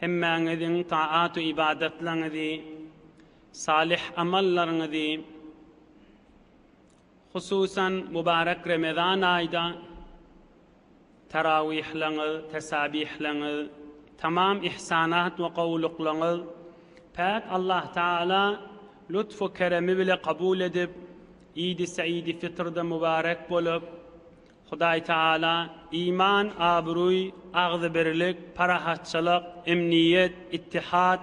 Hemmäňiziň taat-u-ybadatlaryňyzy, salyh amallaryňyzy, hususan, mübarek Remezan aýda tarawihlaryňyz, tesabihlaryňyz, tamam ihsanat we gowulyklaryňyz Päk Allah Tagala lutf-u keremi bile kabul edip, Idi Seýidi Fitrda mübarek bolup, Hudaý Tagala iman, abraý, agzybirlik, parahatçylyk, emniýet, ittihat,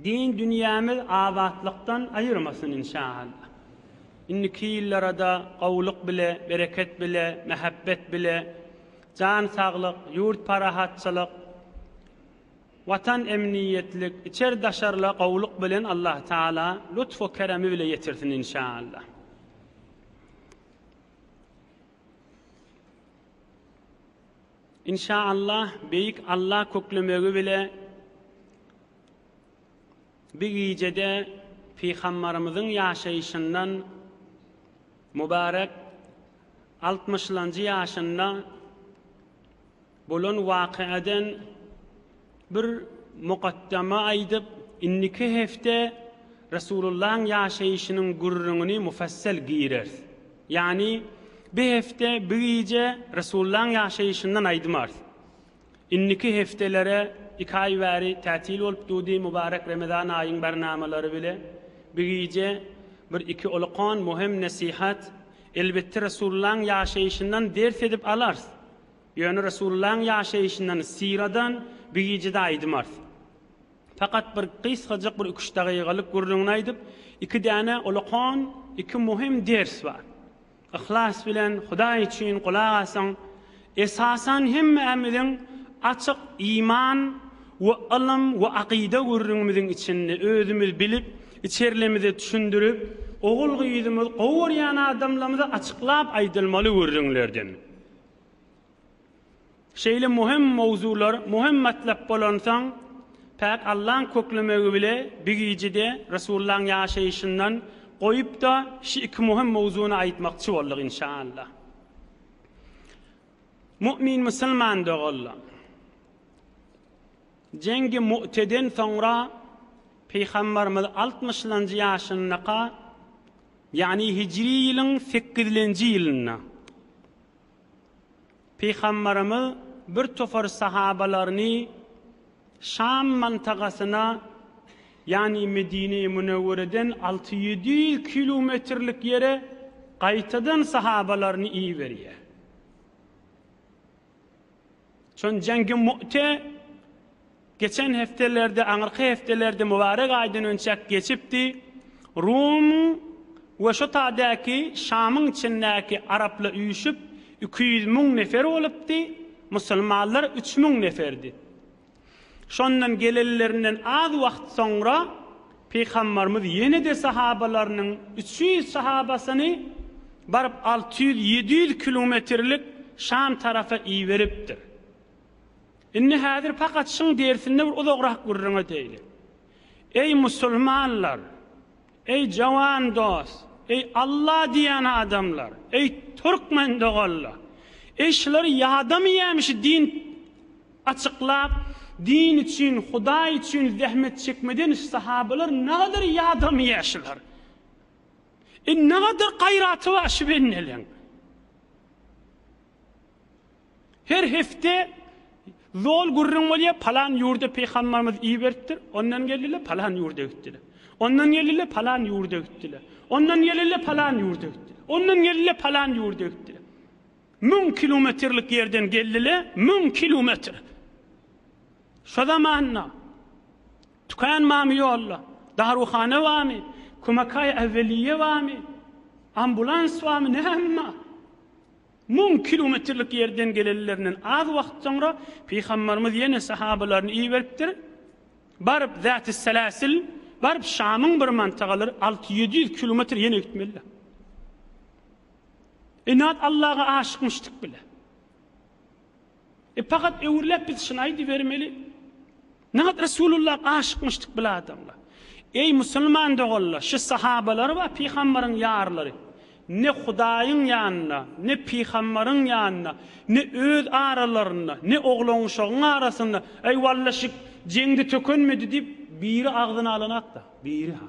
din dünýämiz abatlykdan aýyrmasyn inşaallah. Indiki ýyllarada gowulyk bile, bereket bile, mähebbet bile, jan saglyk, ýurt parahatçylyk, Watan emniýetlik, içer daşarla gowulyk bilen Allah Tagala lutfu keremi bile ýetirsin inşaallah. Inşa Allah beýik Allah köklemegi bile bir gijede Pygambarymyzyň ýaşaýşyndan mübarek altmyşlanjy ýaşynda Bolan wakadan bir mukaddama aýdyp, indiki hepde Resulullahyň ýaşaýşynyň gürrüňini mufassal gireris. Ýagny, bi hepde, bi gije Resulullahyň ýaşaýşyndan aýdmarys. Indiki hepdelere iki aý bäri tätil bolup durdy, mubarek Remezan aýyň barnamalary bile. Bi gije bir iki olakan möhüm nesihat, elbetde Resulullahyň ýaşaýşyndan ders edip alarys. Ýöne Resulullahyň ýaşaýşyndan, syradan bu gije-de aýdym arz. Fakat bir gysgajyk bir üç dagygalyk gürrüňini aýdyp, iki däne ullakan, iki muhim ders bar. Yhlas bilen, Hudaý üçin gulak asyň. Esasan hemmämiziň açyk iman we ylym we akyda gürrüňimiziň içinde özümiz bilip, içerlimize düşündirip, ogul-gyzymyz, gowy görýän adamlarymyza açyklap aýdylmaly gürrüňlerden. Şeýle möhüm mowzular, möhüm matlap bolansoň, päk Allaň köklemegi bile bigijede Resullaň ýaşaýşyndan goýup-da, şu iki möhüm mowzuny aýtmakçy bolduk, inşaallah. Mu'min musulman doganlar! Jengi Mu'teden soňra Pygamberimiz altmyşlanjy ýaşyndaka Ýagny hijri ýylyň sekizlenji ýylynda Pygambarymyz bir topar sahabalaryny Şam mantagasyna, ýagny Medine-i Münewwereden alty ýedi ýüz kilometrlik ýere gaýtadan sahabalaryny iberýär. Şonda Jang-Ýun Mu'te, Geçen hepdelerde, aňyrky hepdelerde mübarek aýdan önçäk geçipdi. Rumyň we şo tadäki Şamyň içindäki araplar üýşüp, iki ýüz müň nefer bolupdy, musulmanlar üç müň neferdi. Şondan gelenlerinden az wagt soňra Pygambarymyz ýene-de sahabalarynyň üç ýüz sahabasyny baryp alty ýüz, ýedi ýüz kilometrlik Şam tarapa iberipdir. Indi häzir pakat şyň dersinde bir uzagrak gürrüň edeýli. Eý musulmanlar! Eý jawan dos, eý Alla diýýän adamlar, eý türkmen doganlar, eý şulary ýadamyýäm şu din açyklap din üçin hudaý üçin zähmet çekmeden şu sahabalar nagadar ýadamyýä şular. Eý nagadar gaýraty bar şu bendeleň. Her hepde zol gürrüň bolýar, palan ýurda pygambarymyz iberipdir, ondan geldiler, palan ýurda gitdiler. Ondan geldiler, palan ýurda gitdiler. Ondan geldiler, palan ýurda gitdiler. Ondan geldiler, palan ýurda gitdiler. Müň kilometrlik ýerden geldiler, müň kilometr. Şo zamanda Tükan mami ýolda, Daruhana bami, Kumakay Aweliye bami, ambulans bami, näme? Müň kilometrlik ýerden gelenlerinden az wagt soňra Pygamberimiz ýene sahabalaryny iberipdir, Baryp Zätisseläsil, baryp Şamyň bir mantagalar alty-ýedi ýüz kilometr ýene gitmelidir. Inat Allaga aşykmyşdyk bile. E pakat öwürläp biz şyny aýdybermeli. Nagt Resulullah aşykmyşdyk bil adamlar. Eý musulman doganlar şu sahabalar bar pygambaryň ýarlary ne Hudaýyň ýanynda ne pygambaryň ýanynda ne öz aralarynda ne oglanuşagyň arasynda eý walla şik jeňde tökenmedi diýip biri agzyna alanakda biri ha.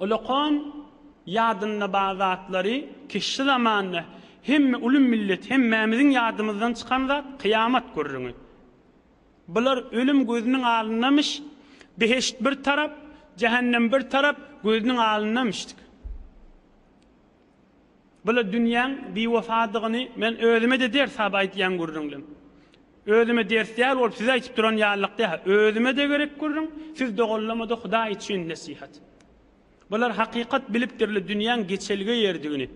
Olakan ýadynda bar zatlary kişi zamanda hemme uly millet hemmämiziň ýadymyzdan çykan zat kyýamat gürrüňi. Bular ölüm gözüniň alyndamyş, beheşt bir tarap, jähennem bir tarap gözüniň alyndamyşdyk. Bula dünýäň biwefadygyny men özüme-de ders sap aýdýan gürrüňlem. Özüme ders däl bolup size aýtyp duran ýalylykda-ha, özüme-de gerek gürrüň, siz doganlama-da Hudaý üçin nesihat. Bular hakykat bilip dürli dünýäň geçelge ýerdigini,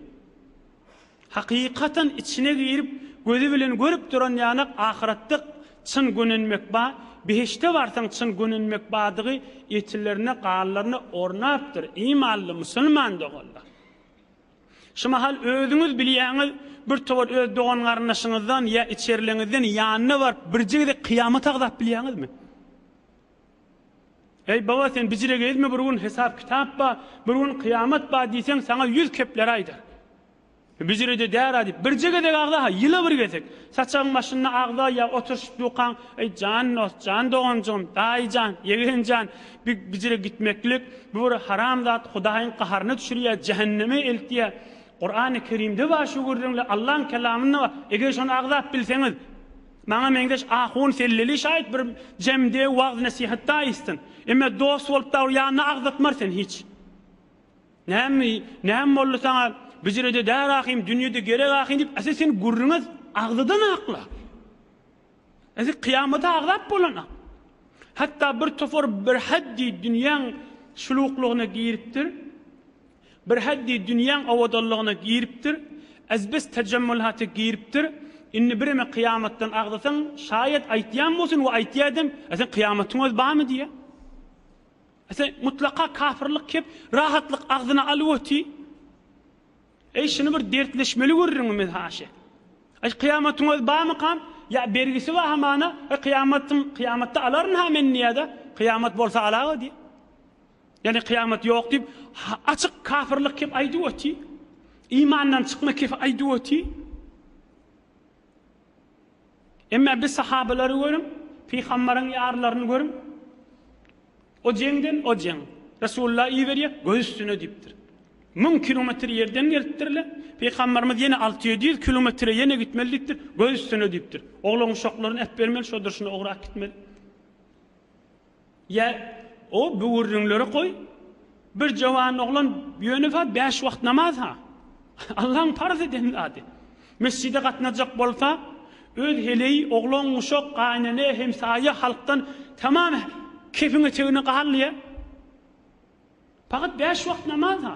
hakykatan içine girip gözi bilen görüp duran ýanak ahyratda çyn gönenmek ba, behişde barsaň çyn gönenmek badygy etilerine, ganlaryna ornapdyr, imanly musulman doganlar. Şu mahal özüňiz bilýäňiz, bir towar öz dogan-garyndaşyňyzdan ýa içerileňizden ýanyna baryp, birje gezek kyýamaty agzap bilýäňizmi? Eý, baba, sen bijire gezme, bir gün hesap-kitap bar, bir gün kyýamat bar diýseň, saňa ýüz kepler aýdar. Bijire-de däl-a diýip, birje gezek agza-ha, ýyla bir gezek. Saçagyň başynda agza ýa oturyşyp dukaň, Eý, jan dost, jan doganjygym, daýy jan, ýegen jan! Bu hijre gitmeklik, bu bir haram zat, Hudaýyň gaharyna düşürýär, jähenneme eltýär. Kurany Kerimde bar şu gürrüňler, Allahyň kelamynda bar. Eger şony agzap bilseňiz, maňa meňzeş ahun selleli şaýyt bir jemde wagyz-nesihatda aýtsyn. Emma dost bolup dagy ýanyna agzatmar sen hiç. Näme, näme boldy saňa? Bijirede däl ahym, dünýede gerek ahym diýip, ese sen gürrüňe agzadan akla. Indi kyýamata azap bolana, hatda bir topar birhaddi dünýäň şuluklygyna giripdir, birhaddi dünýäň owadanlygyna giripdir, ez-bez tajammulat-a giripdir, indi bireme kyýamatdan agzasaň, şaýat aýtýan bolsun we aýtýa edem, A sen kyýamatyň özi barmy diýýä. A sen mutlaka kafirlik kep, rahatlyk agzyna alyp oti. Eý şuny bir dertleşmeli görüriňmi haşa. Eý kyýamatyňyz barmykam ýa bergisi bar hamana eý kyýamatyň kyýamatda alaryn ha men diýýäda kyýamat bolsa alaga diýýä. Ýani kyýamat ýok diýip açyk kafyrlyk kep aýdyp oty. Imandan çykma kep aýdyp oty. Emma biz sahabalary görüň, pygambaryň ýarylaryny görüň, o jeňden, o jeň. Resulullah iberýär, göz üstüne diýipdir. Müň kilometr ýerden gelipdirler, pygambarymyz ýene alty ýedi ýüz kilometre ýene gitmeli diýipdir, göz üstüne diýipdir. Oglan-uşaklaryny äpbermeli, şo durşuna ograp gitmeli. Ýa, o böwürrinleri goý, bir jowan oglan ýöne-hä bäş wagt namaz-ha. Allaň parz eden zady. Mesjide gatnajak bolsa, öz heleý, oglan-uşak, gaýynene, hemsaýa halkdan tamam kepiň-etegine galdy-ýa. Pagat bäş wagt namaz-ha.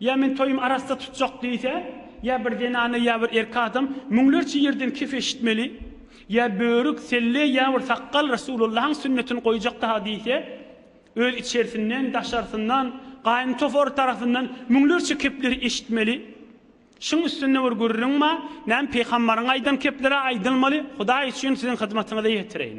Ýa men toýumy arassa tutjak diýse, ýa bir zenana ýa bir erkek adam müňlerçe ýerden kef eşitmeli, ýa börük, selle ýa bir sakgal Resulullahyň sünnetini goýjak daha diýse, öz içersinden, daşarsyndan, gaýyn topary tarapyndan müňlerçe kepleri eşitmeli. Şuň üstünde bir gürrüň bar, näme pygamberiň aýdan kepleri-ä aýdylmaly, Hudaý üçin siziň hyzmatyňyza ýetireýin.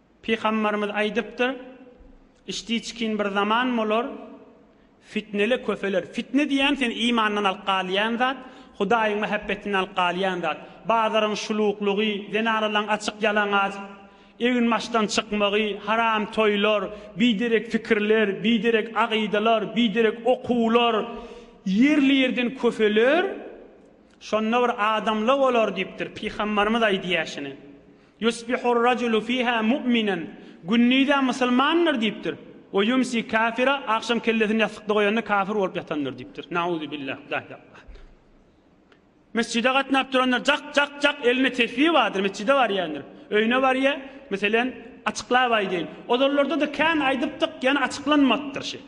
Pygamberimiz aýdypdyr, Içdiçkin bir zaman bolar, fitnele köpeler. Fitne diýýän seni imandan alyp galýan zat, Hudaýyň mähebbetinden alyp galýan zat. Bazaryň şuluklygy, zenanalaryň açyk ýalaňaç egin-başdan çykmagy, haram toýlar, biderek pikirler, biderek agydalar, biderek okuwlar ýerli-ýerden köpeler. Şonda bir adamla bolar diýipdir. Pygamberimiz aýdýar şuny. Ýusbihur-rajulu fiha mu'minan, Gündiz-ä musulmandyr diýipdir. We ýumsi kafira, Agşam kellesini ýassykda goýanda kafir bolup ýatandyr diýipdir. Nauzubillah, Illahillahallah. Mesjide gatnap durandyr, jak, jak, jak, elinde tesbi bardyr, mesjide barýandyr. Öýüne barýar, meselen, açyklap aýdaýyn, ozallarda-da kän aýdypdyk, ýöne açyklanmapdyr şi.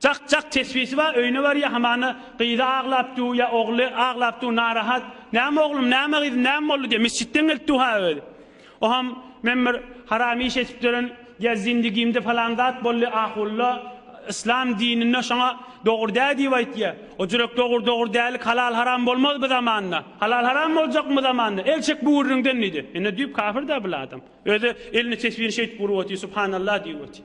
Jak jak tesbisi bar öýüne barýa hamana gyzy aglap du ýa ogly aglap du narahat näme oglum näme gyzym näme boldy diýe mesjitden gelip du ha özi oham men bir haram iş etipdirin ýa zindigimde falan zat boldy ahulla yslam dininde şoňa dogry dä diýip aýtýa o jürek dogry dogry dälik halal haram bolmaz bu zamanda halal haram boljakmy bu zamanda el çek bu gürrüňden diýdi ine düýp kafir dä bul adam özi elini tesbini şeýdip urup otyr subhanallah diýip otyr.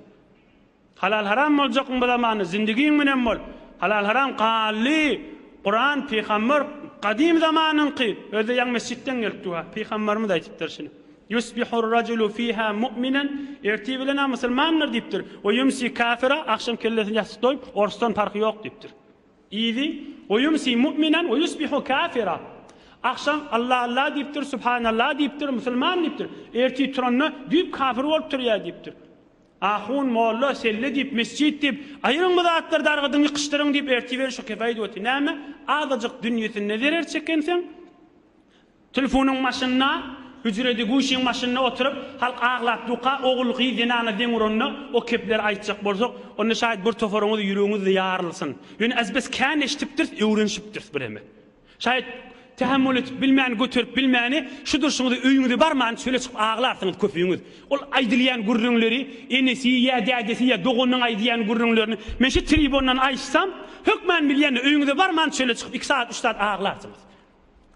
Halal haram boljakmy bu zamanda zindigiň münen bol halal haram Gally Kuran pygamber gadym zamanyňky özde ýaňy mesjitden gelip duha pygamberimiz aýtypdyr şuny Yusbihur rajulu fiha mu'minen ertir bilen a musulmandyr diýipdir we yumsi kafira agşam kellesini ýassyk doýup orsdan parhy ýok diýipdir idi we yumsi mu'minen we yusbihu kafira agşam Allah Allah diýipdir subhanallah diýipdir musulman diýipdir ertir turanda düýp kafir bolup turýar diýipdir Ahun, molla, selle diýip, mesjit diýip, aýyryň bu zatlary dargadyň, ýykyşdyryň diýip ertiberiş şu kefaýyt wagty näme, azajyk dünýesinde zerer çekenseň, telfonyň başynda, hüjredi guşyň başynda oturyp, halk aglap duka, ogul, gyz, zenana deň uranda, o kepleri aýtjak bolsak, onda şaýat bir toparyňyz ýüregiňiz-de ýarylsyn. Ýöne az-bes kän eşdipdiris, öwrenşipdiris bireme. Şaýat tähemmül edip bilmän göterip bilmäni şu durşuňyza öýüňize barman çöle çykyp aglarsyňyz köpüňiz. Ol aýdylýan gürrüňleri enesi ýa dädesi ýa doganynyň aýdýan gürrüňlerini men şu tribondan aýtsam hökman bilýändir öýüňize barman çöle çykyp iki sagat üç sagat aglarsyňyz.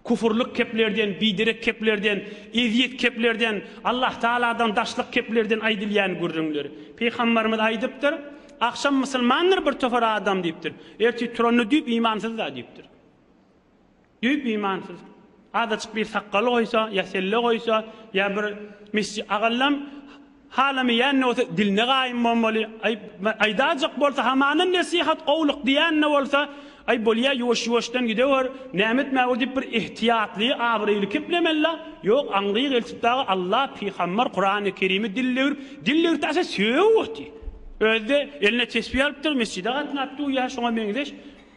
Kufurlyk keplerden biderek keplerden ezýet keplerden Allah tagaladan daşlyk keplerden aýdylýan gürrüňler. Pygambarymyz aýdypdyr, Agşam musulmandyr bir topar adam diýipdir. Ertir turanda düýp imansyzda diýipdir. Düýp imansyz. Azajyk bir sakgal goýsa, ýa selle goýsa, ýa bir mesji agallam halamaýan-da bolsa diline gaýym bolmaly. Aý, aýdajak bolsa hamanam nesihat, gowluk diýen-de bolsa, aý, bolýa, ýuwaş-ýuwaşdan gidewer, näme etmäge diýip bir ehtiýatly, abraýly keplemeli-la. Ýok, aňry gelşip dagy Alla, pygambar, Kurany Kerimi dil döwrüp, dil döwürtdi asa sögüp otyr. Özi-de eline tesbi alypdyr, mesjide gatnapdyr, ýa şoňa meňzeş.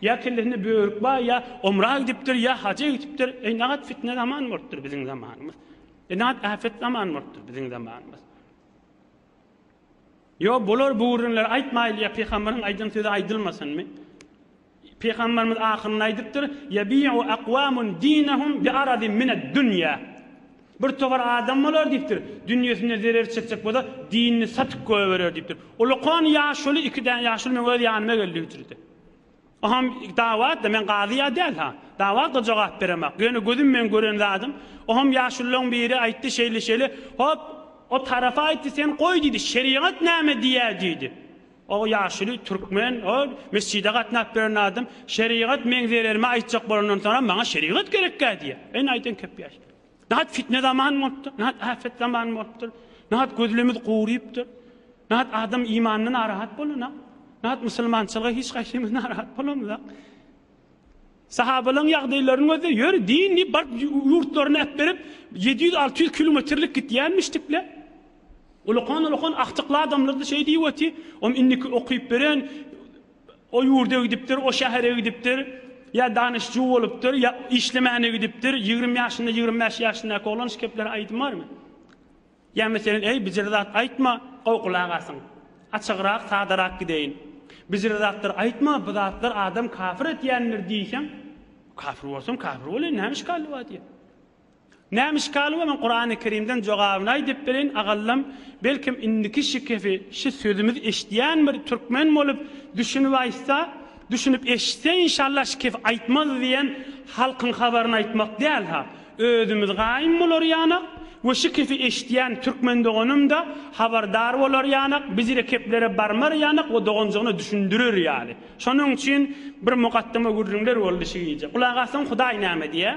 Ýa kellesinde börük bar, ýa omra gidipdir, ýa haja gidipdir. Eý, nagat fitne zaman bolupdyr biziň zamanymyz. Eý, nagat äpet zaman bolupdyr biziň zamanymyz. Ýok, bular bu gürrüňleri aýtmaýly, ýa pygamberiň aýdan sözi aýdylmasynmy? Pygamberimiz ahyrynda aýdypdyr, Ýebi'u akwamun dinehum bi aradin mined-dünýä. Bir topar adam bolar diýipdir, dünýesine zerer çekjek bolsa, dinini satyp goýberer diýipdir. Ulakan ýaşuly iki däne ýaşuly meň öz ýanyma geldi hüjrede. Oham dawatda men gazy ýa däl ha. Dawatga jogap beremak. Ýöne gözüm meň gören zadym. Oham ýaşullaň biri aýtdy şeýle şeýle. Hop o tarapa aýtdy sen goý diýdi şerigat näme diýýä diýdi. O ýaşuly türkmen o mesjide gatnap beren adam şerigat meň zererime aýtjak bolandan soňam maňa şerigat gerekkä diýýä. Ene aýdan köp ýaş. Nädip fitne zamany bolupdyr? Nädip äpet zamany bolupdyr? Nädip gözlerimiz gurypdyr? Nädip adam imanyndan narahat bolanok? Nädip musulmançylyga hiç gaýsymyz narahat bolamyzak? Sahabalaryň ýagdaýlaryny gözle, ýör din diýip baryp ýurtlaryny äpberip 700-600 kilometrlik gitýänmişdikle. Ulakan-ulakan aktykly adamlar-da şeý diýip otyr, om indiki okyp beren O ýurda gidipdir, o şähere gidipdir, ýa danyşjy bolupdyr, ýa işlemäne gidipdir, ýigrimi ýaşynda, ýigrimi bäş ýaşyndaky oglan şu gepleri aýdym barmy? Ýa meselen, Eý, bijire zat aýtma, gowgulagasyň. Açygrak, sadarak gideýin. Bijire zatlar aýtma, bu zatlar adam kafir etýändir diýseň, Kafir bolsam, kafir bolaýyn, näme işgali bar diýýär. Näme işgal bolan Kurany Kerimden jogabyny aýdyp bereýin agallam belkim indiki şikesi şi sözümizi eşidýän bir türkmen bolup düşünip aýtsa düşünip eşitse inşallah şikesi aýtmaz diýen halkyň habaryny aýtmak däl ha özümiz gaýym bolarýanak we şikesi eşidýän türkmen doganymda habardar bolarýanak biz rekeplere barmarýanak we doganjygyna düşündirer ýaly şonuň üçin bir mugaddama gürrüňler boldy şi gije gulak assaň hudaý näme diýýär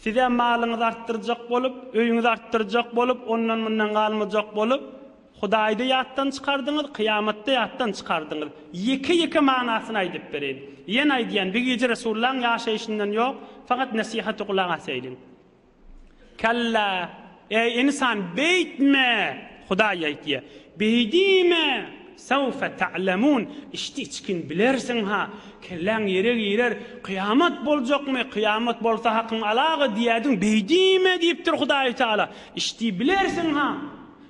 Sizä malyňyzy artdyrjak bolup, öýüňizi artdyrjak bolup, ondan-mundan galmajak bolup, Hudaýy-da ýatdan çykardyňyz, kyýamat-da ýatdan çykardyňyz. Ýeke-ýeke manasyny aýdyp bereýin. Ýene aýdýan, bir gije Resullaň ýaşaýşyndan ýok, fakat nesihaty gulak asaýyň. Kalla! Eý, ynsan, beýtme! Hudaý aýtýar, Beýdime! Sawfa ta'lemun, içdi-içgin bilersiň-ha! Kelläň ýere girer, Kyýamat boljakmy? Kyýamat bolsa hakyň alaga diýerdiň, beýdime! diýipdir Hudaýy Tagala. Içdi bilersiň-ha!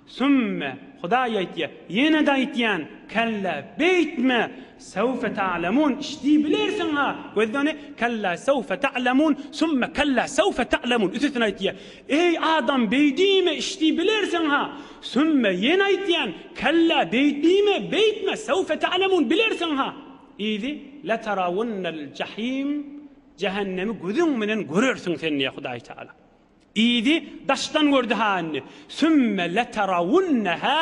Sümme, Hudaý aýtýar, ýene-de aýtýan, Kella, beýtme! Sawfa ta'lemun, içdi bilersiň-ha! Gözle ony, Kella, sawfa ta'lemun, sümme, kella, sawfa ta'lemun, üçüsini aýtýar. Eý adam beý diýme iş diý bilersiň-ha, sümme, ýene aýtýan, kella beýt diýme, beýtme, sewfe ta'lemun bilersiň-ha, yzy, letarawunnel jahim, jähennemi gözüň bilen görersiň sen diýýär Hudaý Taala. Yzy, daşdan gördi-ha indi, sümme letarawunneha,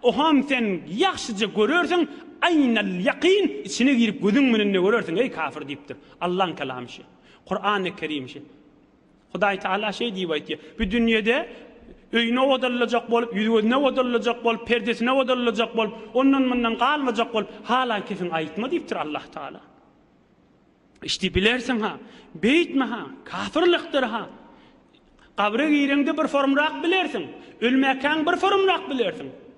oham sen ýagşyja görersiň, aýnel ýakyn, içine girip gözüň bilen-de görersiň, eý kafir diýipdir. Allaň kalamy şu. Kur'an-y Kerim şu. Hudaý Tagala şeý diýip aýtýar, Bu dünýede öýüne odalyljak bolup, ýüz-gözüne odalyljak bolup, perdesine odalyljak bolup, ondan-mundan galmajak bolup, hala kesiň aýtma diýipdir Allah Tagala. Işdi bilersiň-ha, beýtme-ha, kapyrlykdyr-ha. Gabra gireňde bir forumrak bilersiň, ölmäkäň bir forumrak bilersiň.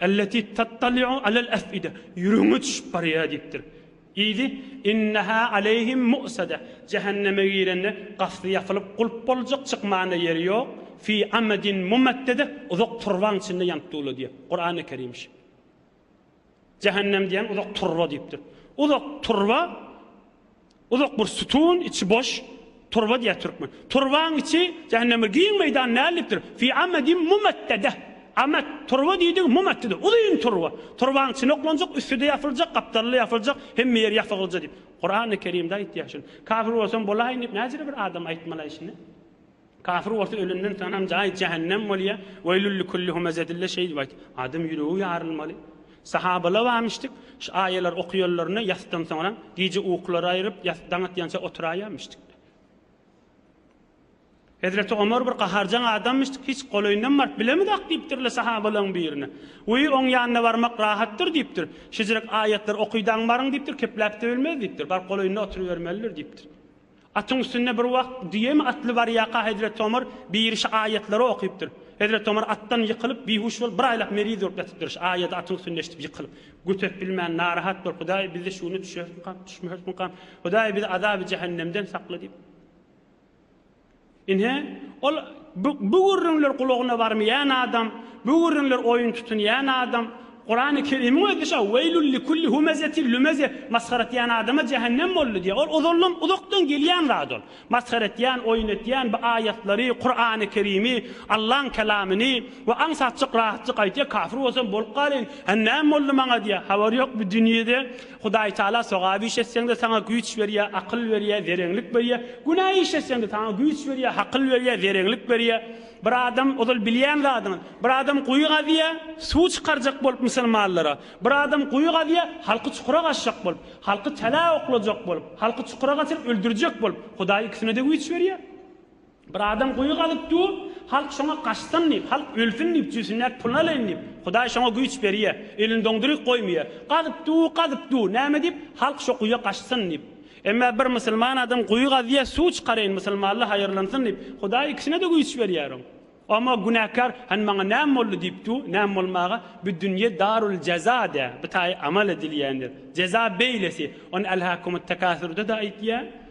Elleti tattali'u alel ef'ide, ýüregiňe düşüp barýar diýipdir. Yzy, Inneha aleyhim mu'sade, Jähenneme girende, gapysy ýapylyp, gulp boljak, çykmana ýeri ýok, fi amadin mumaddede, uzak turbaň içinde ýanyp durular diýýär. Kur'an-y Kerim şi. Jähennem diýen uzak turba diýipdir. Uzak turba. Uzak bir sütun, içi boş, turba diýýär türkmen. Turbaň içi jähennemdir. Giň meýdan näldipdir? Fi amadin mumaddadeh. Amad, turba diýdigi mumaddada, uzyn turba. Turbaň içine oklanjak, üsti-de ýapyljak, gapdaly-da ýapyljak, hemme ýeri ýapygylja diýip, Kurany Kerimde aýtýar şuny. Kafir bolsam bolaýyn diýip näjele bir adam aýtmalaý şuny? Kafir bolsa ölenden soňam jaýy jähennem bolýar, Weýlül likulli humezet dille şeýdip aýt, Adam ýüregi ýarylmaly. Sahabalar barmyşdyk, şu aýalar okuýanlaryna ýasdan soňram, gije uklary aýryp, ýas daň atýança oturaýamyşdyk. Hezreti Omar bir gaharjaň adammyşdyk, hiç golaýynam baryp bilemizok diýipdirler sahabalaryň birine. Weý oň ýanyna barmak rahatdyr diýipdir. Şejirek aýatlary okydaň baryň diýipdir, kepläp-de bilmez diýipdir. Baryp golaýynda oturybermelidir diýipdir. Atyň üstünde bir wagt düýemi atly barýarka hezret Tomar birişi aýatlary okypdyr. Hezret Tomar atdan ýykylyp, bihuş bolup, bir aýlap meriz bolup ýatypdyr. Şi aýady atyň üstünde eşidip ýykylyp, göterip bilmän, narahat bolup, Hudaý, biz-de şu güne düşerismikam, düşmerismikam? Hudaý, bizi azaby jähennemden sakla diýip. Ine, ol bu, bu gürrüňler gulagyna barmaýan adam, bu gürrüňler oýun tutunýan adam, Kurany Kerimiň özi şo, Weýlül likulli humezetil lümeze, masgara etýän adama jähennem boldy diýýär. Ol ozaldan, uzakdan gelýän zat ol. Masgara etýän, oýun etýän, bu aýatlary, Kurany Kerimi, Allaň Kelamyny we aňsatjyk, rahatjyk aýtýar, kafir bolsam bolup galaýyn, ä näme boldy maňa diýýär. Habary ýok bu dünýede. Hudaýtagala sogap iş etseň-de saňa güýç berýär, akyl berýär, zereňlik berýär, günä iş etseň-de saňa güýç berýär, hakyl berýär, zereňlik berýär. Bir adam, ozal bilýän zadyňyz, bir adam guýy gazýar, suw çykarjak bolup musulmanlara, bir adam guýy gazýar, halky çukura gaçjak bolup, halky tälä oklajak bolup, halky çukura gaçyryp öldürjek bolup, Hudaý ikisine-de güýç berýär. Bir adam guýy gazyp dur, halk şoňa gaçsyn diýip, halk ölsün diýip, jübsündäki pulyny alaýyn diýip, Hudaý şoňa güýç berýär, elini doňduryk goýmaýar. Gazyp dur, gazyp dur, näme diýip, halk şo guýa gaçsyn diýip. Emma bir musulman adam guýy gazýar, suw çykaraýyn, musulmanlar haýyrlansyn diýip, Hudaý ikisine-de güýç berýär oň. Emma günäkär, Hany maňa näme boldy diýip dur, näme bolmaga, bu dünýe darul jeza dä, bu taýy amal edilýändir. Jeza beýlesi. Ony Elhakumut-tekasur-da-da aýtýar.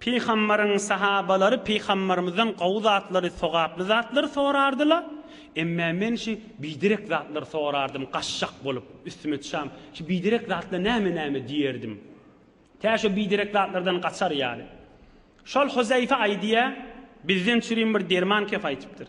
Pygambaryň sahabalary Pygambarymyzdan gowy zatlary, sogaply zatlary sorardylar. Emme men şi biderek zatlary sorardym, gaçjak bolup, üstüme çam, şi biderek zatla näme-näme diýerdim. Tä şo biderek zatlardan gaçar ýaly. Şol Huzaýfe aýdýar, bizden çürim bir derman kep aýtypdyr.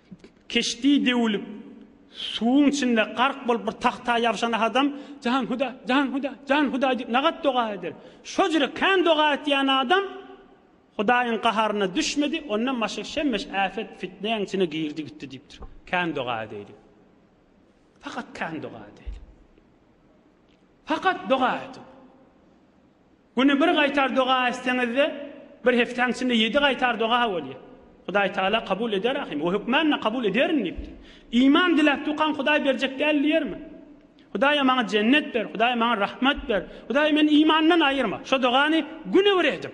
Keşdi döwülip, suwuň içinde gark bolup bir tagta ýabşan adam, Jan Hudaý, jan Hudaý, jan Hudaý diýip nagat doga eder. Şojere kän doga etýän adam Hudaýyň gaharyna düşmedi, ondan başga şemmeş äpet fitnäň içine girdi gitdi diýipdir. Kän doga edeylik. Fakat kän doga edeylik. Fakat doga ediň. Güni bir gaýtar doga etseňizde bir hepdäň içinde ýedi gaýtar doga bolýar. Hudaý Taala kabul eder ahim. O hökmänle kabul ederin diýipdir. Iman diläp dukan Hudaý berjek däl diýermi? Hudaýa maňa jennet ber, Hudaý maňa rahmat ber, Hudaý meni imandan aýyrma. Şo dogany güni bir ediň.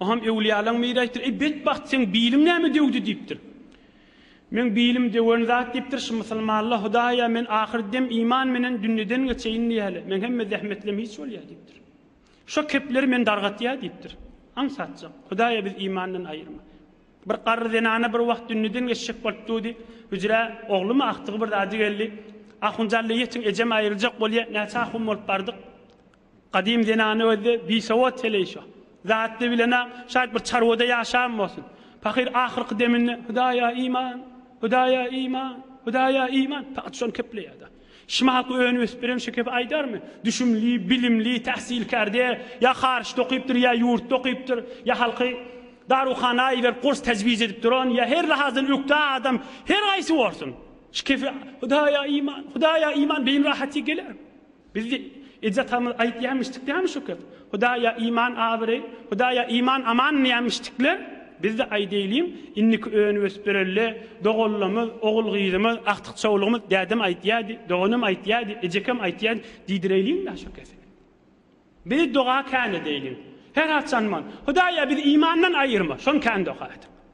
O hem öwlüýalaň biri aýtdyr, Eý, betbagt, seň biliň näme döwdi? diýipdir. Meň bilim döwen zat diýipdir, şu musulmanlar, Hudaý-a, men ahyr dem iman menen dünýeden geçeýin diýýäler, meň hemme zähmetlem hiç bolýar diýipdir. Şo kepleri meni dargatýar diýipdir. Aňsatjak, Hudaý-a, bizi imandan aýyrma. Bir garry zenana bir wagt dünýeden geçjek bolup durdy. Hüjrä oglumy akdygy bir zady geldi. Ahunjalla ýetiň, ejem aýryljak bolýar. Näçe ahun bolup bardyk. Gadym zenany özde bisowat heleýşa. Zatly bilen-ä şaýt bir çarwada ýaşan bolsun. Pahyr ahyrky deminde Hudaýa iman! Hudaýa iman! Hudaýa iman! Pahyr şony kepleýär-de. Şmaky önüp-ösüp beren şekepi aýdarmy? Düşümli, bilimli, täsilkärde, ýa haryçda okypdyr, ýa ýurtda okypdyr, ýa halky daruhana iberip gurs tejwiz edip duran, ýa her lahazdan ökde adam, her haýsy bolsun, şkepi Hudaýa iman! Hudaýa iman! Beýin rahaty gelermi? Biz eje-atamyz aýtýamişdik dämi şökes? Hudaýa iman abyreý, Hudaýa iman aman diýämişdikle? Biz-de aýdaýlyň, indiki önüp-ösüp bereli, doganlamyz, ogul-gyzymyz, agtyk-çowlugymyz dädem aýtýardy, doganym aýtýardy, ejekem aýtýardy diýdireýliň-dä şökes. Biz doga kän edeýliň. Her haçanman, Hudaýa bizi imandan aýyrma, şony kän doga ediň.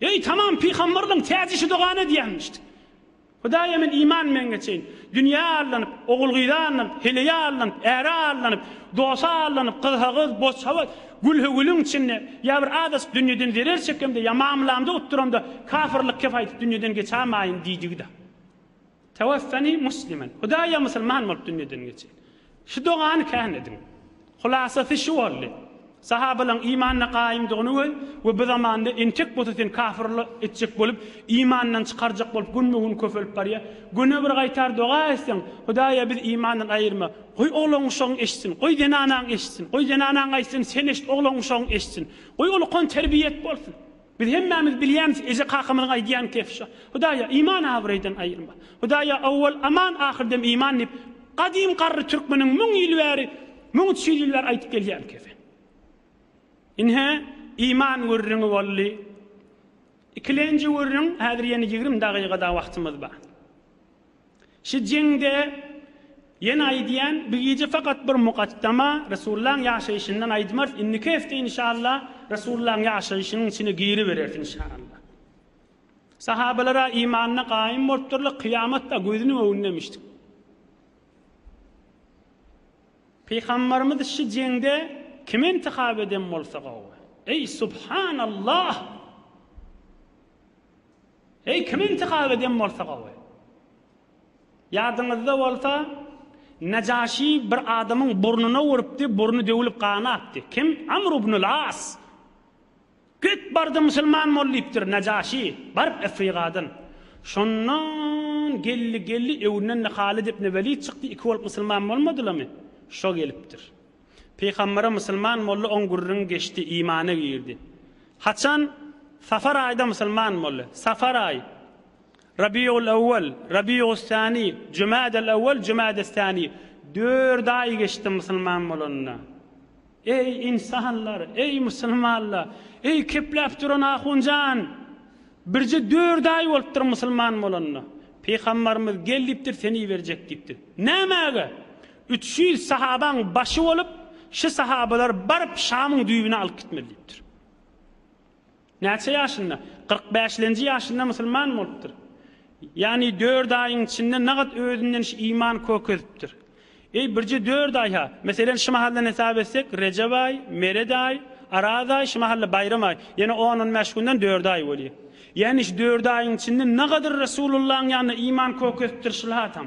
Eý, tamam pygamberligiň täjişi dogany edýänmişdi. Hudaýa men iman men geçeýin. Dünýä aldanyp, ogul-gyza aldanyp, heleýe aldanyp, äre aldanyp, dosa aldanyp, gyzha-gyz, bozçaboz, gülhä-gülüň içinde, ýa bir azajyk dünýeden zerer çekemde, ýa mamlamda utduramda, kafyrlyk kep aýdyp dünýeden geçämaýyn diýdigi-dä. Tewaffeni muslimen, Hudaýa musulman bolup dünýeden geçirin. Şu dogany kän ediň. Hulasasy şu boldy, sahabalaryň imanda gaýymdygyny we we bu zamanda entek bolsa seni kafir etjek bolup, imandan çykarjak bolup günbe-gün köpelip barýar. Güne bir gaýtar doga etseň, Hudaýa bizi imandan aýyrma. Goý oglan-uşagyň eşitsin, goý zenanaň eşitsin, goý zenanaň aýtsyn, sen eşit, oglan-uşagyň eşitsin. Goý ol ukan terbiýe et bolsun. Biz hemmämiz bilýämis eje-kakamyzyň aýdýan kefi şo. Hudaýa, iman abraýdan aýyrma. Hudaýa, owwal aman, ahyrdem iman diýip, gadym garry türkmeniň müň ýyl bäri, müň üç ýüz ýyl bäri aýdyp gelýän kefi. Ine, iman gürrüňi boldy. Ikilenji gürrüň, häzir ýene ýigrimi dagyga-da wagtymyz bar. Şi Jingde ýene aýdýan bi gije fakat bir mukaddama Resulullahyň ýaşaýşyndan aýdmarys indiki hefte inşallah Resulullahyň ýaşaýşynyň içine giribereris inşallah. Sahabalara imanda gaýym bolupdyrlar kyýamat da gözüniň öňünde emişdik. Pygambarymyz Şi Jingde kimi intihap eden bolsa gowy. Eý subhanallah! Eý kim intikap eden bolsa gowy. Ýadyňyzda bolsa Najaşy bir adamyň burnuna urupdy burny döwülip gany akdy. Kim? Amr ibnul As. Git bardy musulman bol diýipdir Najaşy baryp Efrigadan. Şondan geldi geldi öwünden de Halid ibn Welid çykdy iki bolup musulman bolmadylamy? Şo gelipdir. Pygambere musulman boldy oň gürrüň geçdi imana girdi. Haçan? Safar aýda musulman boldy. Safar aýy. Rabiul awwal, Rabius sani, Jumadal awwal, Jumadus sani. Dört aý geçdi musulman bolanyna. Eý insanlar, eý musulmanlar, eý kepläp duran ahunjan! Birje dört aý bolupdyr musulman bolanyna. Pygamberimiz gel diýipdir seni iberjek diýipdir. Nämäge? Üç ýüz sahabaň başy bolup, şu sahabalar baryp Şamyň düýbüne alyp gitmeli diýipdir. Näçe ýaşynda? Kyrk bäşlenji ýaşynda musulman bolupdyr. Ýagny dört aýyň içinde nagt özünden şu iman kök edipdir. Eý, birje dört aý-ha! Meselen, şu mahaldan hesap etsek, Rejep aý, Meret aý, Araz aý, şu mahal-da Baýram aý. Ýene on-on bäş günden dört aý bolýar. Ýagny şu dört aýyň içinde nagadyr Resulullahyň ýanynda iman kök edipdir şul adam.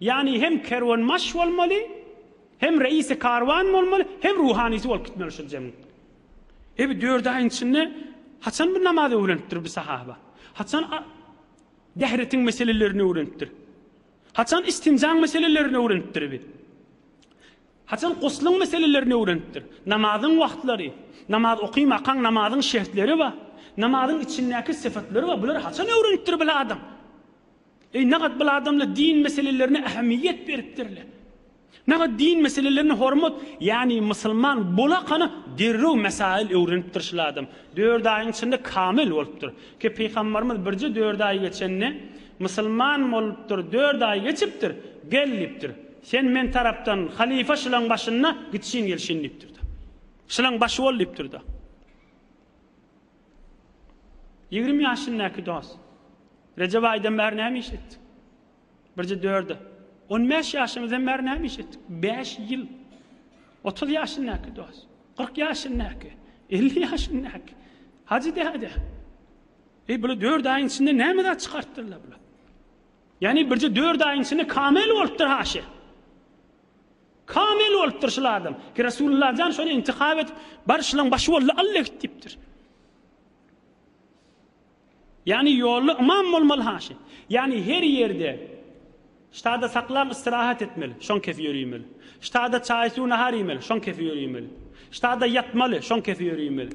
Ýagny hem kerwenbaş bolmaly, hem reisi karwan bolmaly, hem ruhanysy bolup gitmeli şol jemiň. E bu dört aýyň içinde haçan bir namaz öwrenipdir bir sahaba? Haçan dähretiň meselelerini öwrenipdir? Haçan istinjaň meselelerini öwrenipdir bi? Haçan guslyň meselelerini öwrenipdir? Namazyň wagtlary, namaz okymakaň namazyň şertleri bar. Namazyň içindäki sypatlary bar. Bulary haçan öwrenipdir bir adam? Eý, nagat bil adamlar din meselelerine ähmiýet beripdirler. Nagat din meselelerine hormat, ýagny musulman bolakana derrew mesail öwrenipdir şul adam. Dört aýyň içinde kamil bolupdyr. Ki pygambarymyz birje dört aý geçende, musulman bolupdyr, dört aý geçipdir, gel diýipdir. Sen men tarapdan halyfa şulaň başynda gitşin gelşin diýipdir-de. Şulaň başy bol diýipdir-de. Ýigrimi ýaşyndaky dos. Rejep aýdan bäri näme iş etdik? Birje dörde. On bäş ýaşymyzdan bäri näme iş etdik? Bäş ýyl. Otuz ýaşyndaky dos. Kyrk ýaşyndaky. Elli ýaşyndaky. Hajy däde. Eý, bular dört aýyň içinde näme zat çykartdylar bular? Ýagny birje dört aýyň içinde kamel bolupdyr haşy. Kamil bolupdyr şul adam. Ki Resulullah jan şony intihap edip bar şulaň başy boldy Alla git diýipdir. Ýani ýolly ymam bolmaly haşy. Ýani her ýerde Ştada saklam istirahat etmeli, şoň kesi ýöriýmeli. Ştada çaý-suw nahar iýmeli, şoň kesi ýöriýmeli. Ştada ýatmaly, şoň kesi ýöriýmeli.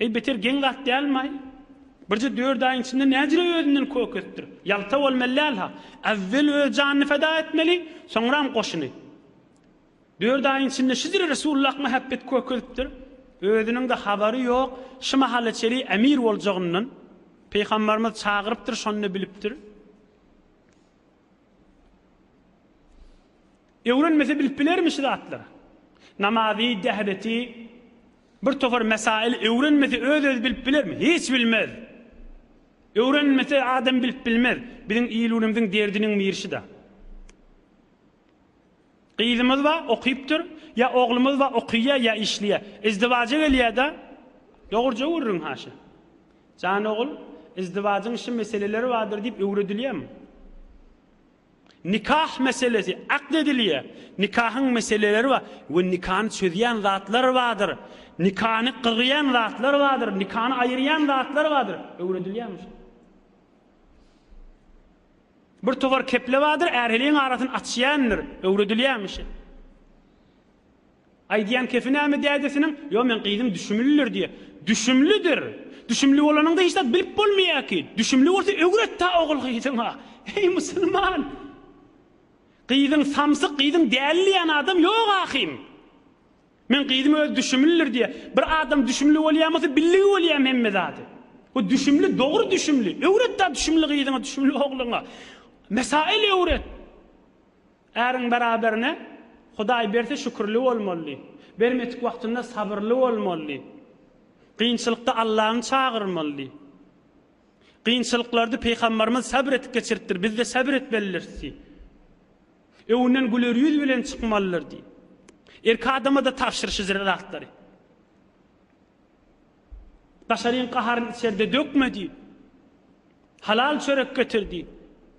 Eý beter geň zat dälmaý? Birje dört aýyň içinde näcire özünden kökesdir. Ýalta bolmaly däl-ha. Äwwel öz janyny feda etmeli, soňram goşuny. Dört aýyň içinde şüdür Resulullah mähebbet kökesipdir. Özüniň-de habary ýok, şu mahala çeli emir boljagyndan. Pygambarymyz çagyrypdyr, şonda bilipdir. Öwrenmese bilip bilermi şu zatlary? Namazy, dehbeti, bir topar mesaili öwrenmese öz-özi bilip bilermi? Hiç bilmez. Öwrenmese adam bilip bilmez. Biziň il-günümiziň derdiniň biri şu-da. Gyzymyz bar, okypdyr, ýa oglumyz bar, okyýar, ýa işleýär. Izdiwaja gelýär-de, dogruja gürrüň haşa. Jan ogul, izdiwajyň şu meseleleri bardyr diýip öwredilýärmi? Nikah meselesi akd edilýär. Nikahyň meseleleri bar we nikany çözýän zatlar bardyr. Nikany gyrýan zatlar bardyr, nikany aýyrýan zatlar bardyr. Öwredilýärmi şol? Bir towar keple bardyr, är-heleýiň arasyny açýandyr. Öwredilýärmi şe? Aýdýan kefi näme dädesiniň? Ýo meň gyzym düşümlidir diýýä. Düşümlidir! Düşümli bolanyňda hiç zat bilip bolmaýa ki. Düşümli bolsa öwretdä ogul gyzyňa. Eý musulman! Gyzyň samsyk, gyzyň däli diýýän adam ýok ahym. Meň gyzym özi düşümlidir diýýä. Bir adam düşümli bolýan bolsa billigi bolýam hemme zady. Bu düşümli dogry düşümli. Öwretdä düşümli gyzyňa, düşümli ogluňa. Mesail öwret. Äriň beraberine Hudaý berse şükürli bolmaly, bermedik wagtynda sabyrly bolmaly. Kynçylykda Allany çagyrmaly. Kynçylyklardy Pygambarymyz sabr edip geçiripdir, bizde sabr etmelirsi. Öwünden güler ýüz bilen çykmalyrdy. Erki adamada tabşyryşy zratlary. Daşaryň gaharyn içerde dökme diýip, Halal çörek getir diýip,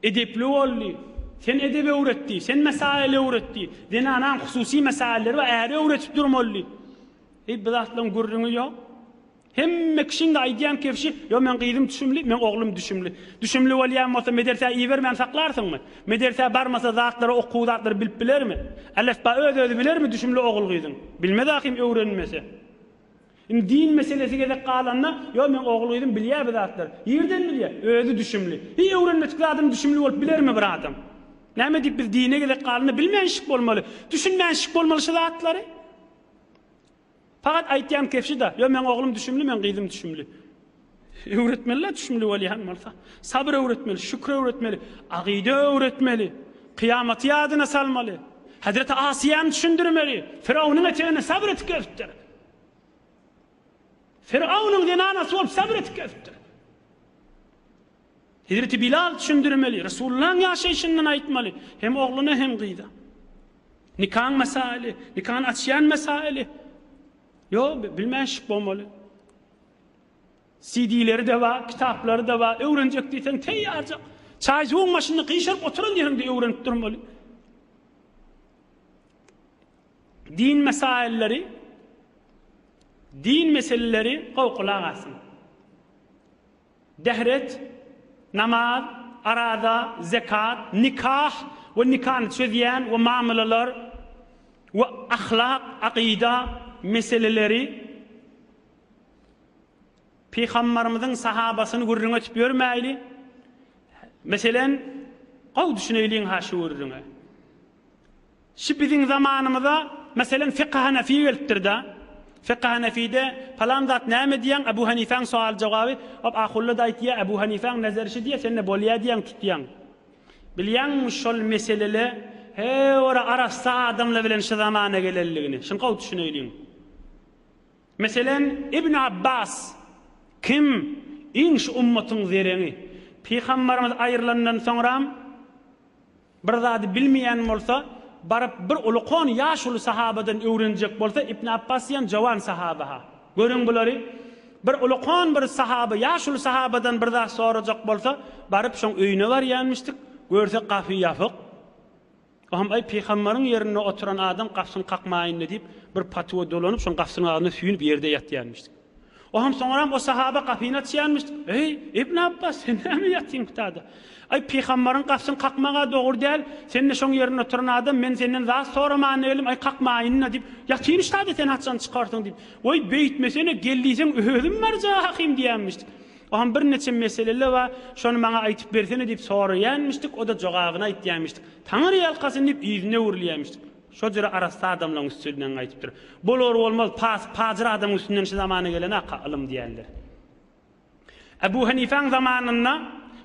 Edepli bol diýip, Sen edep öwret diýip, Sen mesail öwret diýip, Zenanaň hususy mesailleri bar, äri öwredip durmaly diýip. Eý, bu zatlaryň gürrüňi ýok. Hemme kişiň-de aýdýan kebşi, Ýok, meň gyzym düşümli, meň oglum düşümli. Düşümli bolýan bolsa, medersä ibermän saklarsyňmy? Medersä barmasa, zatlary, okuw zatlary bilip bilermi? Alefba öz-özi bilermi düşümli ogul-gyzyň? Bilmez ahym, öwrenmese. Indi din meselesi gezek galanda, ýo meň ogul-gyzym bilýär bu zatlar. Nirden bilýär? Özi düşümli. Hiý öwrenmedik zadyny düşümli bolup bilermi bir adam? Näme diýip biz dine gezek galanda bilmänşik bolmaly, düşünmänşik bolmaly şu zatlary? Pagat aýtýan kefşi-da, ýo meň oglum düşümli, meň gyzym düşümli. Öwretmeli-la düşümli bolýan bolsa. Sabyr öwretmeli, şükür öwretmeli, agyda öwretmeli, kyýamaty ýadyna salmaly. Hezreti Asyýany düşündirmeli, Firawnyň eteginde sabyr etip gezipdir. Firaunyň zenanasy bolup sabr etip gezipdir. Hezreti Bilal düşündirmeli, Resulullahyň ýaşaýşyndan aýtmaly, hem ogluna hem gyza. Nikaň mesaili, nikany açýan mesaili. Yo, bilmäşik bolmaly. CD-leri de bar, kitaplary da bar, öwrenjek diýseň teýýarjak. Çaýjuwyň başynda gyşaryp oturan ýeriňde öwrenip durmaly. Din mesailleri Din meseleleri gowy gulak asyň. Dehret, namaz, araza, zekat, nikah we nikany çözýän we mamylalar we ahlak, akyda, meseleleri Pygambarymyzyň sahabasyny gürrüň etip ýörmäýli. Meselen, gowy düşüneýliň-ha şu gürrüňe. Şu biziň zamanymyza, meselem, Fekhy Hanefi gelipdir-de. Fekhy Hanefide palan zat näme diýýäň, Ebu Hanifäň sowal-jogaby, hop, Ahulla-da aýtýar, Ebu Hanifäň nezeri şu diýýär, sen-de bolýar diýýäň, tutýaň. Bilýäňmi şol meselele heora arassa adamlar bilen şu zamana gelenligini? Şuny gowy düşüneýliň. Meselem, Ibn Abbas, kim? Iň şu ummatyň zereňi. Pygambarymyz aýrylandan soňram. Bir zady bilmeýän bolsa, baryp bir uly kon ýaşuly sahabadan öwrenjek bolsa, Ibn Apbas diýen jowan sahaba-ha. Görüň bulary. Bir uly kon bir sahaba ýaşuly sahabadan bir zat sorajak bolsa, baryp şoň öýüne barýanmyşdyk, görse gafy ýapyk. O hem aý pyhamberiň ýerinde oturan adam gafsyny kakmaýynda diýip, bir patwa dolanyp şoň gafsynyň agzynda süýnüp ýerde ýatýanmyşdyk. Oňam soňram o sahaba gapyny açýarmyş. Eý, Ibn Abbas, sen näme ýatyň gutada? Aý, pygambaryň gapysyny kakmaga dogry däl. Sen-de şoň ýerinde oturan adam, men senden zat soraman geldim. Aý, kakmaýyn-da diýip, ýatyny şada sen haçan çykarsyň diýip. Weý, beýtmesene, gel diýseň özüm barjakym diýýänmiş. Oňam bir neçe meseleler bar, şony maňa aýtyp bersene diýip soraýanmyşdyk, o-da jogabyny aýtýanmyşdyk. Taňry ýalkasyn diýip, yzyna öwrülýänmyşdyk. Şo jüre arassa adamlaň üstünden aýdypdyr. Bolar bolmaz pasy pajyr adamyň üstünden şu zamana gelenaka ylym diýendir. Ebu Hanifäň zamanynda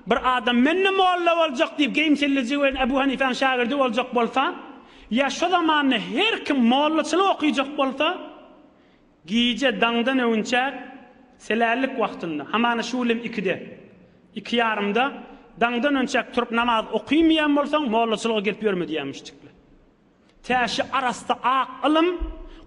bir adam mende molla boljak diýip geýimsilliji we Ebu Hanifäň şagirdi boljak bolsa, ýa şo zamanda her kim mollaçylyk okyjak bolsa, Gije daňdan öwünçäk selällik wagtynda, hamana şu ýyl hem ikide, iki ýarymda daňdan önçäk turup namaz okymaýan bolsaň, mollaçylyga gelip ýörme diýýär müşdikler. Tä şu arassa ak ylym,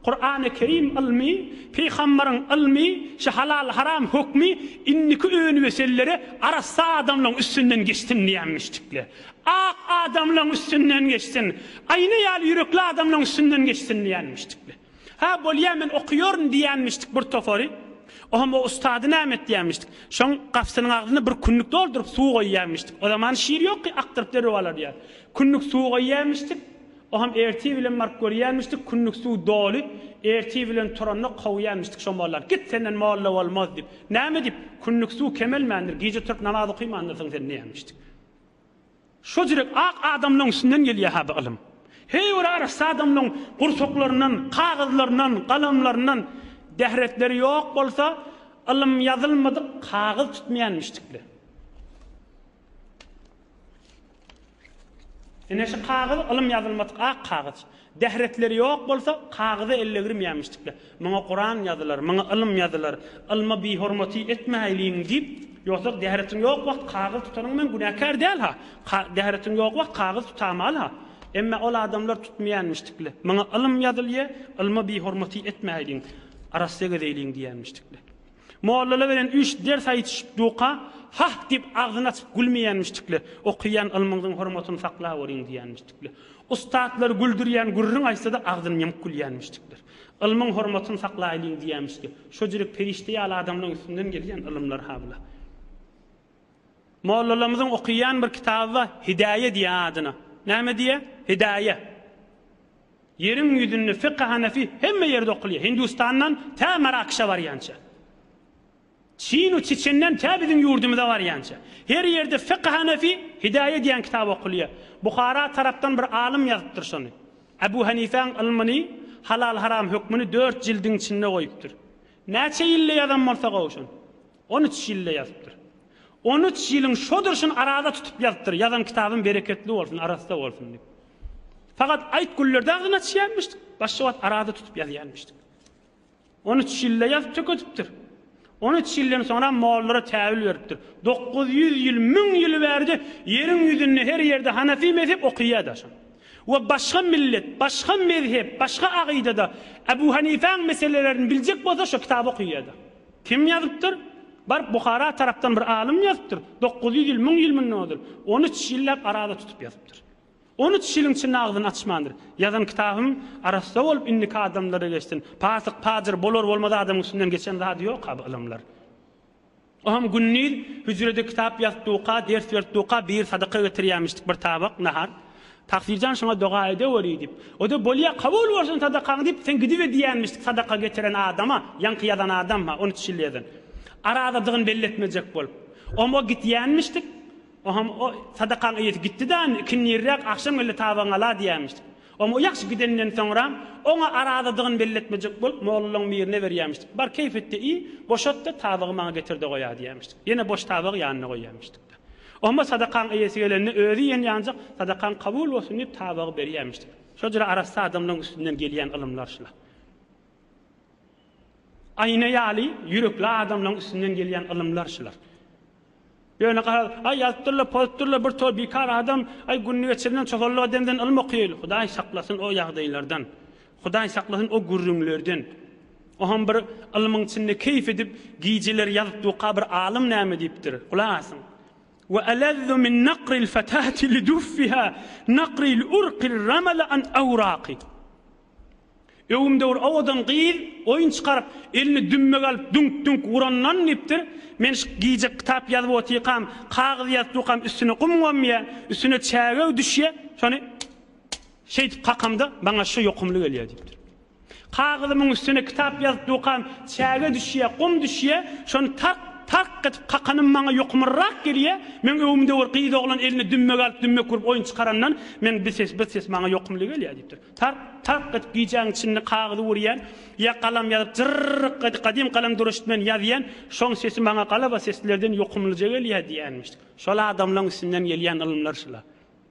Kurany Kerim ylmy, Pygamberiň ylmy, şu halal haram hökmi indiki önüwesellere arassa adamlaň üstünden geçsin diýýär müşdikler. Ak adamlaň üstünden geçsin, aýna ýaly ýürekli adamlaň üstünden geçsin diýýär müşdikler. Hä, bolýa, men okaýaryn diýýänmişdik bir topary. O hem o ustady näme etýänmişdik? Şoň gapysynyň agzyna bir künnük dolduryp, suw goýýanmişdik. O zaman şir ýok ki, akdyryp derrew alarýar. Künnük suw goýýanmişdik. O hem ertir bilen baryp görýänmişdik, künnük suw doly. Ertir bilen turanok, kowýanmişdik şo mollany. Git, senden molla bolmaz diýip. Näme diýip? Künnük suw kemelmändir, gije turup namaz okaýmandyrsyň sen diýýänmişdik. Şo jürek ak adamlaň içinden gelýä ha bu ylym. Heý bir arassa adamlaň gursaklaryndan, kagyzlaryndan, galamlaryndan dähretleri ýok bolsa ylym ýazylmadyk kagyz tutmaýanmyşdyk le. Ine şu kagyz ylym ýazylmadyk ak kagyz. Bähretleri ýok bolsa, kagyza ellegirmeýämişdikler. Muňa Kuran ýazylar, muňa ylym ýazylar, ylma bihormaty etmäýliň diýip, ýogsam bähretiň ýok wagt kagyz tutanyň men günäkär däl-ha, bähretiň ýok wagt kagyz tutamaly-ha. Emme ol adamlar tutmaýanmişdikler. Muňa ylym ýazylýa, ylma bihormaty etmäýliň, arassa gezeýliň diýýänmişdikler. Mollala beren üç ders aýytyşyp duka hah diýip agzyny açyp gülmeýänmişdikle, okaýan ylmyňyzyň hormatyny saklap görýiň diýýänmişdikle. Ussatlar güldürýän gürrüň aýtsada agzyny ýumyp gülýänmişdikler. Ylmyň hormatyny saklaýlyň diýýänmişdi. Şojürek perişde ýaly adamlaň üstünden gelýän ylymlar ha bula. Mollalarymyzyň okyýan bir kitaby bar, Hidaýe diýýär adyna. Näme diýýär? Hidaýe. Ýeriň ýüzünde fiky hanefi hemme ýerde okulýar. Hindistandan tä Marakşa barýança. Çinu Çiçenden tä biziň ýurdumyza barýança. Her ýerde fiky hanefi, Hidaýe diýýän kitaby okulýar. Buhara tarapdan bir alym ýazypdyr şony. Abu Hanifäň ylmyny, halal-haram hökmüni dört jildiň içinde goýupdyr. Näçe ýylda ýazan bolsa gowy şony. On üç ýylda ýazypdyr. On üç ýylyň şo durşuny arada tutup ýazypdyr, Ýazan kitabym bereketli bolsun, arassa bolsun diýip. Fakat aýt güllerde agzyny açýanmyşdyk, başga wagt arada tutup ýazýanmyşdyk. On üç ýylda ýazyp tökedipdir. On üç ýyldan soňra mollara täwil beripdir. Dokuz ýüz ýyl, müň ýyl bärde ýeriň ýüzünde her ýerde Hanefi mezhep okyýada şam. We başga millet, başga mezhep, başga agydada Ebu Hanifäň meselelerini biljek bolsa şo kitaby okyýada. Kim ýazypdyr? Baryp Buhara tarapdan bir alym ýazypdyr. Dokuz ýüz ýyl, müň ýyl mundan ozal. On üç ýylläp arada tutup ýazypdyr. On üç ýylyň içinde agzyny açmandyr. Ýazan kitabym arassa bolup indiki adamlara geçsin. Pasyk, pajyr, bolar-bolmaz adamyň üstünden geçen zady ýok-a bu ylymlar. O hem gündiz hüjrede kitap ýazypdyk-a, ders beripdik-a, bir sadaka getirýämişdik, bir tabak nahar. Taksirjan şoňa doga edeweri diýip, o-da Bolýa, kabul bolsun sadakaň diýip, sen gidibe diýenmişdi sadaka getiren adama, ýaňky ýazan adama, on üç ýyl ýazan. Arazadygyny belli etmejek bolup. Om o gitýänmişdik. Ohm o sadakaň eýesi gitdi-da indi, ikindi irräk agşam geldi tabagyňy ala diýenmişdik. Om o ýagşy gidenden soňram, oňa arazadygyny belli etmejek bolup, mollalaň birine berýänmişdik. Bar keýfetde iý, boşat-da tabagy maňa getir-de goýa diýenmişdik. Ýene boş tabagy ýanyna goýýanmişdik. Omma sadakaň eýesi gelende, özi iýen ýanjak sadakaň kabul bolsun diýip tabagy berýämişdir. Şo jyra arassa adamlaň üstünden gelýän ylymlar şular. Aýna ýaly ýürekli adamlaň üstünden gelýän ylymlar şular. Ýöne garaz, aý ýazypdyrlar, pozypdyrlar bir tor bikar adam, aý gününi geçirenden çopanlyk edenden ylym okaýaýly. Hudaý saklasyn o ýagdaýlardan. Hudaý saklasyn o gürrüňlerden. O ham bir ylmyň içinde keýp edip gijeler ýazyp duka bir alym näme diýipdir. Gulak asyň. Ve elezzu min nakril fetati li duffiha nakril urqil ramala an awraqi. Öwümdewr owadan gyz oýun çykaryp elini dümmegi alyp düňk düňk urandan diýipdir, men şu gije kitap ýazyp otyrkam, kagyz ýazyp durkam üstüne gum gomýa, üstüne çägeg düşýä, şony Şeýdip kakamda maňa şu ýokumly gelýär diýipdir. Kagyzymyň üstüne kitap ýazyp dukam, çäge düşýär, gum düşýär, şony tark, tark edip kakanym maňa ýokumlyrak gelýär, meň öwümde bir gyz oglan eline dümme galyp dümmek urup oýun çykarandan meň bir ses, bir ses maňa ýokumly gelýär diýipdir. Tark, tark edip gijäň içinde kagyzy urýan, ýa galam ýazyp jyrrk edip gadym galam duruştmen ýazýan, şoň sesi maňa galaba seslerden ýokumlyja gelýär diýýänmişdik. Şol adamlaň üstünden gelýän ylymlar şula.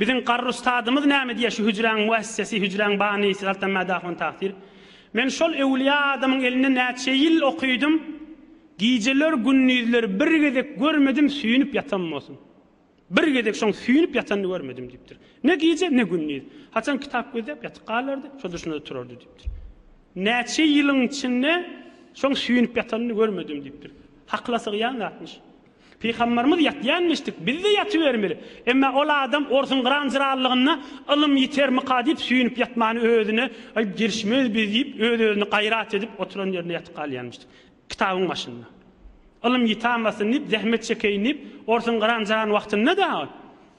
Biziň garry ustadymyz näme diýýär şu hüjräň müessesi, hüjräň banysy galtan mädahun tagsyr. Men şol öwlüýä adamyň elinde näçe ýyl okydym, gijeler, gündizler bir gezek görmedim süýnüp ýatan bolsun. Bir gezek şoň süýnüp ýatanyny görmedim diýipdir. Ne gije, ne gündiz. Haçan kitap gözläp ýatyp galardy, şo duşunda-da turardy diýipdir. Näçe ýylyň içinde şoň süýnüp ýatanyny görmedim diýipdir. Hakyla sygýan zatmyş. Pygamberimiz ýatýanmişdik, biz-de ýatybermeli. Emma ol adam orsuň gyranjyralylygynda ylym ýitermika diýip süýnüp ýatmany özüne aýyp girişmez biz diýip öz-özüne gaýrat edip oturan ýerinde ýatyp galýanmişdik. Kitabyň başynda. Ylym ýitamasyn diýip zähmet çekeýin diýip orsuň gyranjyran wagtynda dagy.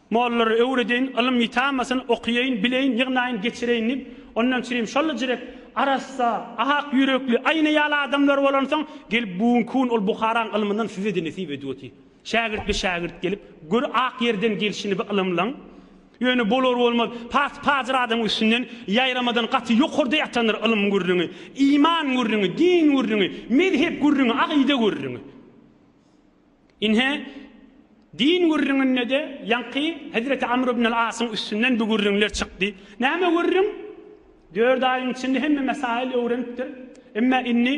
Mollary öwredeýin, ylym ýitamasyn, okaýaýyn, bileýin, ýygnaýyn, geçireýin diýip, ondan çirim şol-la jirek, arassa, ak ýürekli, aýna ýaly adamlar bolansoň, gelip bu günki gün ol Buharaň ylmyndan size-de nesip edip otyr. Şägirtli şägirt gelip, gör ak ýerden gelşini bi ylymlyň. Ýöne bolar-bolmaz, pas-pajyr adam üstünden ýaýramadan gaty ýokarda ýatandyr ylym gürrüňi, iman gürrüňi, din gürrüňi, mezhep gürrüňi, agyda gürrüňi. Ine, din gürrüňinde-de ýaňky hezreti Amr ibn al-Asyň üstünden bu gürrüňler çykdy. Näme gürrüň? Dört aýyň içinde hemme mesaýyl öwrenipdir. Emma indi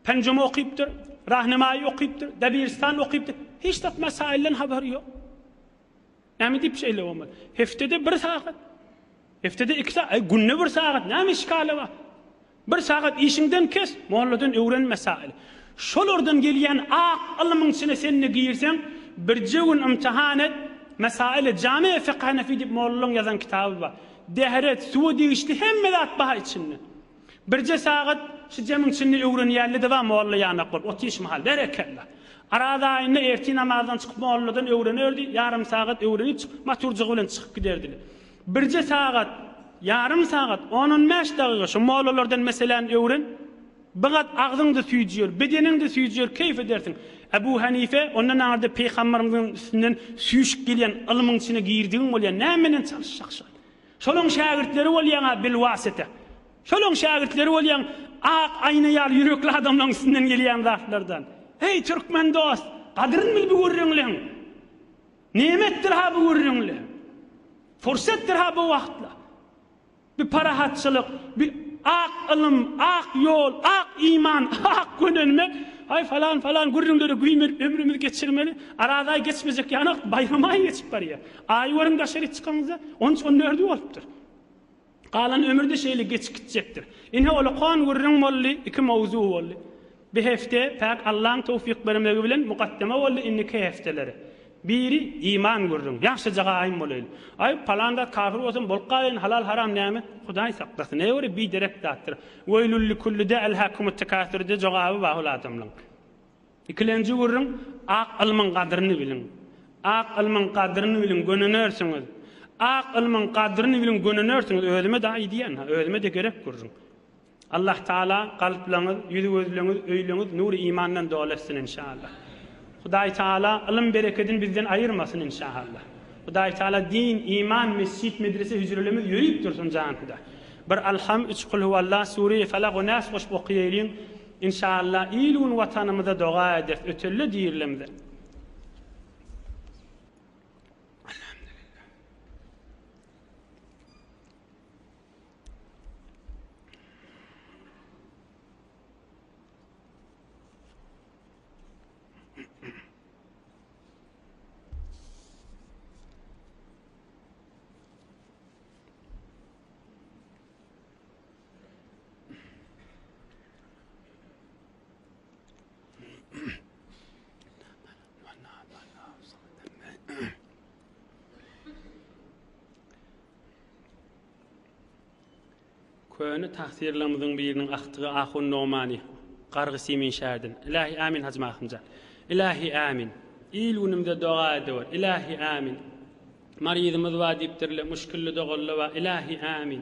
Penjumi okypdyr, Rahnumaýy okypdyr, Debiristan okypdyr. Hiç zat mesaýyldan habary ýok. Näme diýip şeýle bolmaly? Heftede bir sagat. Heftede iki sagat. Günde bir sagat. Näme işgaly bar? Bir sagat işiňden kes, molladan öwren mesaýyl. Şolardan gelýän ak ylmyň içine sen-de girseň, birje gün ymtahan et, mesaýyly, Jamy-i fekh hanefi diýip mollalaryň ýazan kitaby bar. Dehret, suwa degişli hemme zat bar içinde. Birje sagat şu jemiň içinde öwrenýäli-de bar molla ýanak bolup otyş mahal. Berekella. Araz aýynda ertir namazdan çykyp molladan öwrenerdi, ýarym sagat öwrenip çykyp maturjygy bilen çykyp giderdi. Birje sagat, ýarym sagat, on-on bäş dagyga şu mollalardan meseläni öwren. Bigat agzyň-da süýjür, bedeniň-de süýjür, keýp edersiň. Ebu Henife, Onda naňyrda Pygamberimiziň üstünden süýşüp gelýän ylmyň içine girdigiň bolýar, näme bilen çalyşjakşyň? Şolaň şägirtleri bolýaň-a bilwasita. Şolaň şägirtleri bolýaň ak aýna ýaly ýürekli adamlaň üstünden gelýän zatlardan. Heý, türkmen dost, gadyryn bil bu gürrüňleň! Nemetdir-ha bu gürrüňli. Pursetdir-ha bu wagtly. Bu parahatçylyk, bu ak ylym, ak ýol, ak iman, ak gönenme, aý, falan, falan gürrüňlere güýmenip ömrümizi geçirmeli. Arazaý geçmejek ýanok, baýramaý geçip barýar. Aýy görüň daşaryk çykanyňyzda, on üç-on dördi bolupdyr. Galan ömür-de şeýle geçip gitjekdir. Ine, ol okan gürrüň boldy, iki mowzuk boldy. Bir hepde, päk Allaň towfyk bermegi bilen, mukaddema boldy, indiki hepdelere, biri, iman gürrüň. Ýagşyja gaýym bolaýly. Aý, palan zat kafir bolsam bolup galaýyn, halal-haram näme? Hudaý saklasyn. Näme göre biderek zatdyr. Weýlul-li-kulli-de el-hakumut-tekasur-de jogaby bar ol adamlaň. Ikilenji gürrüň, Ak ylmyň gadryny biliň! Ak ylmyň gadryny biliň, gönünersiňiz! Ak ylmyň gadryny biliň, gönünersiňiz! Özüme-de aýdýan, ha, özüme-de gerek gürrüň. Allahtaala kalplaryňyz, ýüz-gözleriňiz, öýleriňiz nury imandan doly etsin, enşaallah! Hudaýtaala ylym berekedini bizden aýyrmasyn, enşaallah! Hudaýtaala din, iman, mesjit, medrese, hüjrelerimiz ýörüp dursun, janhuda! Bir Alham, üç Kulhuwallah, Sureýi Falak we Nas goşup okaýaýlyň, Inşalla il gün watanymyza doga ederis ötelle dirilemde. Köne tahsirlerimiziň biriniň ahtygy Ahun Nomani, Gargy Simin şäherden. Ilahi amin Hajy Mahymja. Ilahi amin. Il günümde doga ediwer. Ilahi amin. Maryzymyz bar diýipdirler, müşkilli doganlar bar. Ilahi amin.